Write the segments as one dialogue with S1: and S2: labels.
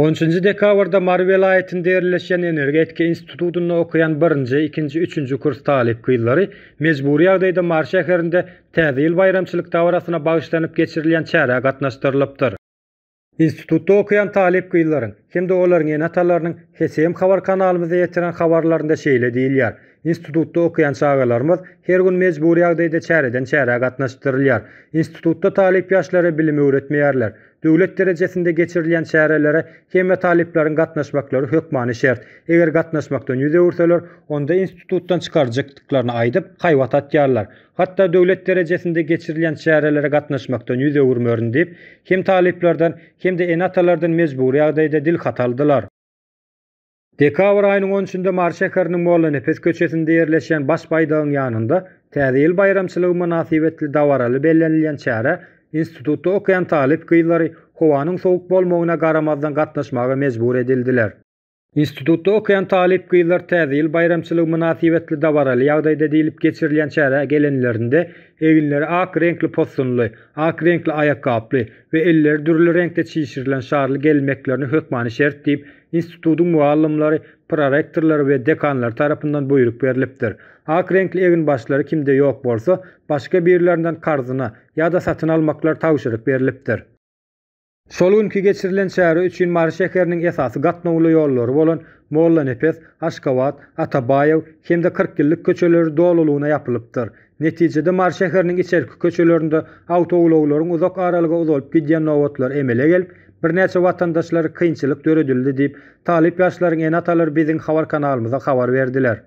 S1: On üçünji dekabrda Mary welaýatynda ýerleşýän Energetika institutynda okaýan birinji, ikinji, üçünji kurs talyp gyzlary mejbury ýagdaýda Mary şäherinde Täze ýyl baýramçylyk dabarasyna bagyşlanyp geçirilýän çärä gatnaşdyrylypdyr. Institutda okaýan talyp gyzlaryň hem-de olaryň ene-atalarynyň HSM habar kanalymyza ýetiren habarlarynda şeýle diýilýär, Institutda okaýan çagalarymyz her gün mejbury ýagdaýda çäreden-çärä gatnaşdyrylýar. Institutda talyp ýaşlara bilim öwretmeýärler. Döwlet derejesinde geçirilýän çärelere hemme talyplaryň gatnaşmaklary hökmany şert. Eger gatnaşmakdan ýüz öwürseler, onda institutdan çykaryjykdyklaryny aýdyp, haýbat atýarlar. Hatda döwlet derejesinde geçirilýän çärelere gatnaşmakdan ýüz öwürmerin diýip, hem talyplardan, hem-de ene-atalardan mejbury ýagdaýda dil haty aldylar. Dekabr aýynyň on üçünde Mary şäheriniň Mollanepes köçesinde ýerleşýän Baş baýdagyň ýanynda Täze ýyl baýramçylygy mynasybetli dabaraly bellenilýän çärä institutda okaýan talyp gyzlary howanyň sowuk bolmagyna garamazdan gatnaşmaga mejbur edildiler. Institutda okaýan talyp gyzlar Täze ýyl baýramçylygy mynasybetli dabaraly ýagdaýda diýlip geçirilýän çärä gelenlerinde eginleri ak reňkli possunly, ak reňkli aýakgaply we elleri dürli reňkde çişirilen şarly gelmeklerini hökmany şert diýip, institutyň mugallymlary, prorektorlary we dekanlary tarapyndan buýruk berlipdir. Ak reňkli eginbaşlary kimde ýok bolsa, başga birlerinden karzyna ýa-da satyn almaklary tabşyryk berlipdir. Şol günki geçirilen çäre üçin Mary şäheriniň esasy gatnawly ýollary bolan Mollanepes, Aşgabat, Atabaýew hem-de Kyrkýyllyk köçeleri dolulygyna ýapylypdyr. Netijede Mary şäheriniň içerki köçelerinde awtoulaglaryň uzak aralyga uzalyp gidýän nobatlary emele gelip, birnäçe watandaşlar kynçylyk döredildi diýip, talyp ýaşlaryň ene-atalary biziň habar kanalymyza habar berdiler.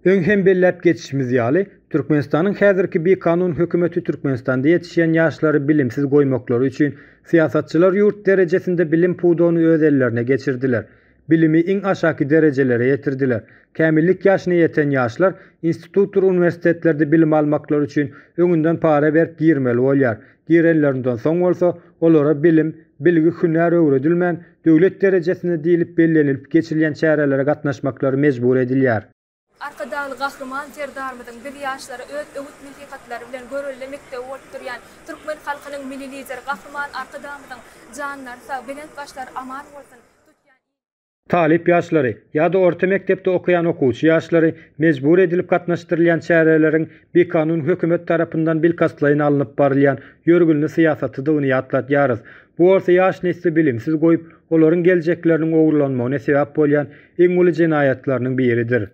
S1: Öň hem belläp geçişimiz ýaly, Türkmenistanyň häzirki bikanun hökümeti Türkmenistanda ýetişýän ýaşlary bilimsiz goýmaklary üçin, syýasatçylar ýurt derejesinde bilim pudagyny öz ellerine geçirdiler. Bilimi iň aşaky derejelere ýetirdiler. Kämillik ýaşyna ýeten ýaşlar institutdyr uniwersitetlerde bilim almaklary üçin öňünden para berip girmeli bolýar, girenlerinden soň bolsa, olara bilim, bilgi, hünär öwredilmän, döwlet derejesinde diýlip bellenilip geçirilýän çärelere gatnaşmaklary mejbur edilýär. Arkadagly
S2: Gahryman Serdarymyzyň biz ýaşlara öz öwüt-nesihatlary bilen görelde mekdebi bolup durýan türkmen halkynyň Milli Lideri Gahryman Arkadagymyzyň janlary sag, belent başlary aman bolsun, tutýan il,
S1: Talyp ýaşlary ýa-da orta mekdepde okaýan okuwçy ýaşlary mejbur edilip gatnaşdyrylýan çäreleriň bikanun hökümet tarapyndan bilkastlaýyn alnyp barylýan ýörgünli syýasatydygyny ýatlatýarys. Bu bolsa ýaş nesli bilimsiz goýup, olaryň geljekleriniň ogurlanmagyna sebäp bolýan iň uly jenaýatlarynyň biridir.